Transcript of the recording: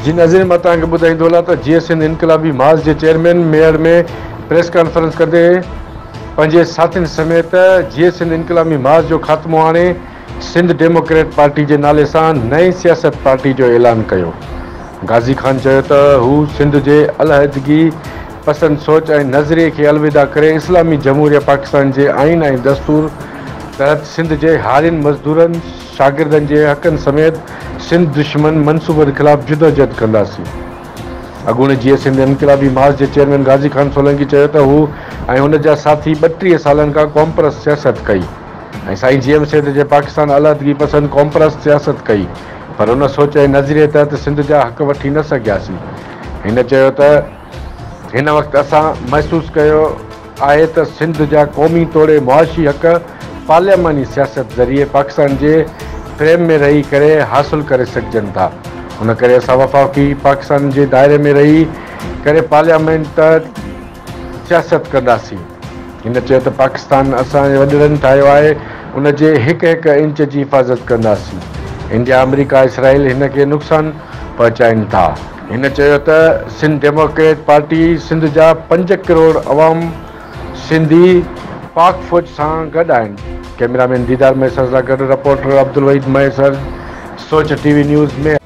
جن عظيم مان توهان کي ٻڌائيندو هلان ته جيئي سنڌ انقلابي ماس جي چيئرمين ميڙ ۾ پريس ڪانفرنس ڪندي پنهنجي ساٿين سميت جيئي سنڌ انقلابي ماس جو خاتمو آڻي سنڌ ڊيموڪريٽ پارٽي جي نالي سان نئين سياست پارٽي جو اعلان ڪيو. غازي خان چيو ته هو سنڌ جي علحدگي پسند سوچ ۽ نظريي کي الوداع ڪري اسلامي جمهوريه پاڪستان جي آئين ۽ دستور تحت سنڌ جي هارين، مزدورن، شاگردن جي حقن سميت سنڌ دشمن منصوبن خلاف جدوجهد ڪنداسين. اڳوڻي جيئي سنڌ انقلابي مارچ جي چيئرمين غازي خان سولنگي چيو ته هو ۽ هن جا ساٿي ٻٽيهه سالن کان قومپرست سياست ڪئي. ۽ سائين جي ايم سيد جي پاڪستان علحدگي پسند قومپرست سياست ڪئي پر ان سوچ ۽ نظريي تحت سنڌ جا حق وٺي نه سگهياسين. هن چيو ته هن وقت اسان محسوس ڪيو آهي ته سنڌ جا قومي توڙي معاشي حق پارلياماني سياست ذريعي پاڪستان جي فريم ۾ رهي ڪري حاصل ڪري سگهجن ٿا ان ڪري اسان وفاقي پاڪستان جي دائري ۾ رهي ڪري پارليامينٽ سياست ڪنداسين. هن چيو ته پاڪستان اسان جي وڏيرن ٺاهيو آهي، ان جي هڪ هڪ انچ جي حفاظت ڪنداسين. انڊيا، آمريڪا، اسرائيل هن کي نقصان پهچائين ٿا. هن چيو ته سنڌ ڊيموڪريٽ پارٽي سنڌ جا پنج ڪروڙ عوام سنڌي پاڪ فوج سان گڏ آهن. ڪئميرا مين ديدار مهيسر سان گڏ رپورٽر عبدالوحيد مهيسر، سوچ ٽي وي نيوز، مير.